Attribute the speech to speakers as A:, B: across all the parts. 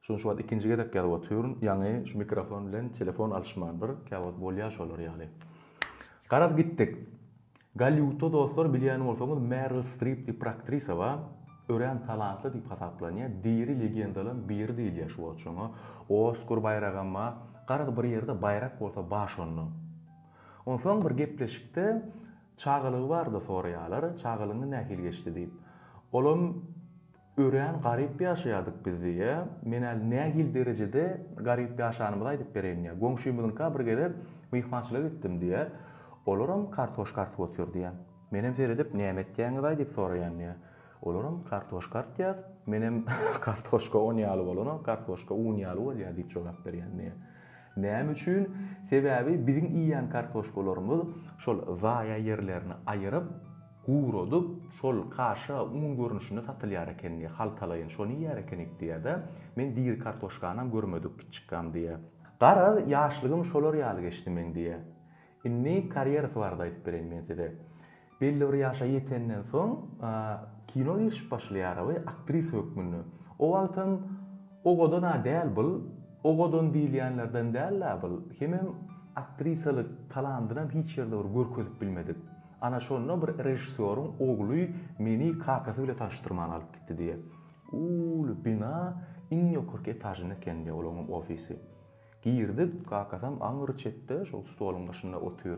A: Şuny şu wagt ikinji gezek ýazyp otyryn, ýaňy şu mikrofon bilen telefon alyşmandyr, käwagt bolýar şolar ýaly. Garaz gitdik. Golliwudda dostlar bilýän bolsaňyz Meril Strip diýip bir aktrisa bar, örän talantly diýip hasaplanýar, diri legendalan biri diýilýär şu wagt şoňa, Oskar baýragam bar, garaz bir ýerde baýrak bolsa bar şonda. Onsoň bir gepleşikde çagalygy barada soraýarlar, çagalygyňyz nähili geçdi diýip. Olam. Örän garyp ýaşaýardyk biz diýýä. Men äl nähili derejede garyp ýaşanymyzy aýdyp bereýin diýýä. Goňşymyzyňka bir gezek myhmançylyga gitdim diýýä. Olaram kartoşka artyp otyr diýýä. Menem seredip, näme etýäňiz-aý diýip soraýan diýýä. Olaram kartoşka artýas. Menem kartoşka on ýaly bolanok, kartoşka un ýaly bolýa diýip jogap berýän diýýä. Näme üçin? Sebäbi biziň iýýän kartoşkalarymyz şol zaýa ýerlerini aýyryp, Guradyp, şol kaşa un görnüşinde satylýar eken diýýär. Haltalaýyn şony iýýär ekenik diýýär-de. Men diri kartoşkanam görmedik kiçikgam diýýär. Garaz, ýaşlygym şolar ýaly geçdi meň diýýär. Indi karýerasy barada aýdyp bereýin men size. Belli bir ýaşa ýetenden soň, kino girişip başlaýar awy, aktrisa hökmünde. O wagtam Ogadan-a däl bul, Ogadan diýilýänlerden däl-ä bul. Hemem aktrisalyk talandynam hiç ýerde bir görkezip bilmedik. Ana şonda bir režissýoryň ogly meni kakasy bilen tanyşdyrman alyp gitdi diýýä. Uly bina, iň ýokarky etažynda eken diýýä olaň hem ofisi. Girdik, kakasam aňry çetde şol stoluň başynda otyr.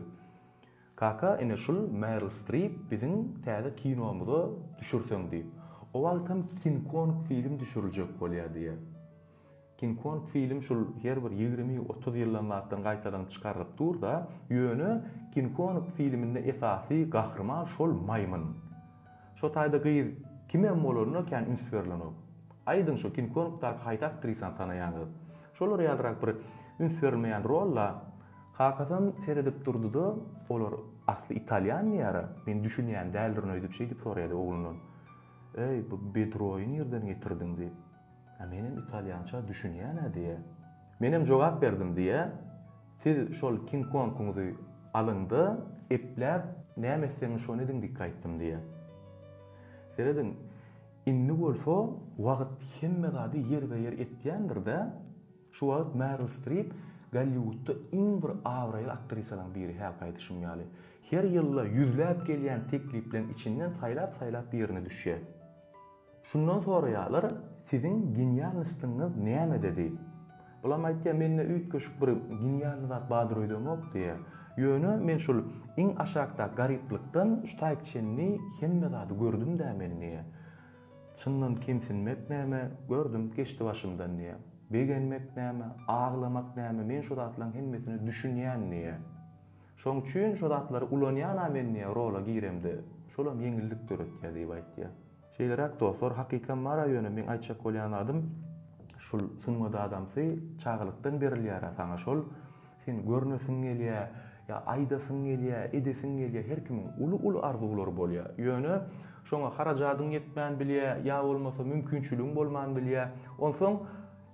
A: Kaka, ine şul Meryl Strip biziň täze kinomyza düşürseň diýip. O wagtam King Kong film düşüriljek bolýar diýýä. King Kong film şul her bir ýigrimi otuz ýyldan zatdan gaýtalanyp çykarylyp durda ýöne King Kong filminde esasy gahryman şol maýmyn. Şo taýda gyz kimem bolanda kän üns berlenok. Aýdyň şo King Kongdaky haýsy aktrisany tanaýaňyz. Şolara ýalyrak bir üns berilmeýän rolla. Kakasam seredip durdyda olar asly italýan diýýära men düşünýän däldirin öýdüp şeýdip soraýady oglundan. Eý bu bedroýy nirden getirdiň diýip. Hä menem italýança düşünýänä diýýä. Menem jogap berdim diýýä, Siz şol King Konguňyzy alyňda epläp näme etseňiz şony ediň dikge aýtdym diýýä. Serediň indi bolsa wagyt hemme zady ýerbe-ýer etýändirdä, şu wagyt Meril Strip Golliwudda iň bir abraýly aktrisalaň biri hälki aýdyşym ýaly. Her ýylda ýüzläp gelýän teklipleriň içinden saýlap-saýlap birine düşýä. Şundan soraýarlar, Siziň genialnostyňyz nämede? diýip. Bulam aýtýar, Mende üýtgeşik bir genialny zat bardyr öýdemok diýýär. Ýöne men şul iň aşakdaky garyplykdan şu taýyk çenli hemme zady gördüm-dä men diýýär. Çyndan kemsinmek näme, gördüm, geçdi başymdan diýýär. Begenmek näme, aglamak näme, men şu zatlaryň hemmesine düşünýän diýýär. Şoň üçin şo zatlary ulanýan-a men diýýä rola giremde. Şolam ýeňillik döretýä diýip aýtýa. Şeýleräk dostlar, hakykam bar-a ýöne meň aýtjak bolýan zadym şul sungat adamsy çagalykdan berilýär-ä saňa şol. Sen görnesiň gelýä, ýa aýdasyň gelýä, edesiň gelýä her kimiň uly-uly arzuwlary bolýa. Ýöne şoňa harajadyň ýetmän bilýä, ýa bolmasa mümkinçiligiň bolman bilýä. Onsoň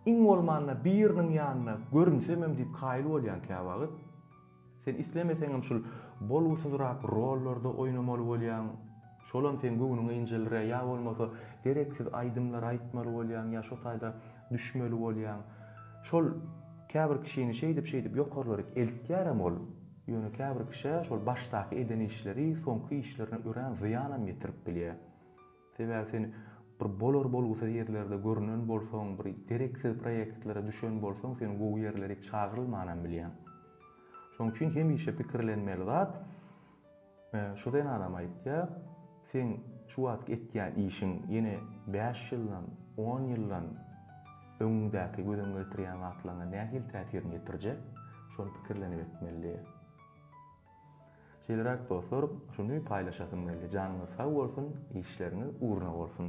A: iň bolmanda biriniň ýanynda görünsemem diýip kaýyl bolýaň käwagt. Sen islemeseňem şul bolgusyzrak rollarda oýnamaly bolýaň, şolam seň göwnüňe injeldirýär, ýa bolmasa gereksiz aýdymlar aýtmaly bolýaň, ýa şo taýda düşmeli bolýaň. Şol käbir kişini şeýdip-şeýdip ýokarlaryk eltýärem ol. Ýöne käbir kişä şol başdaky eden işleri soňky işlerine örän zyýanam ýetirip bilýär. Sebäbi sen bir bolar bolgusyz ýerlerde görünen bolsaň, bir gereksiz proýektlere düşen bolsaň, seni gowy ýerlere hiç çagyrylmanam bilýän. Şoň üçin hemişe pikirlenmeli zat, şu zenanam aýtýar, seň şu wagtky etýän işiň ýene bäş ýyldan, on ýyldan öňüňdäki göz öňüňe getirýän zatlaryňa nähili täsirini ýetirjek, şony pikirlenip etmeli diýýär. Şeýleräk dostlar şuny paýlaşasym geldi janyňyz sag bolsun işleriňiz ugruna bolsun.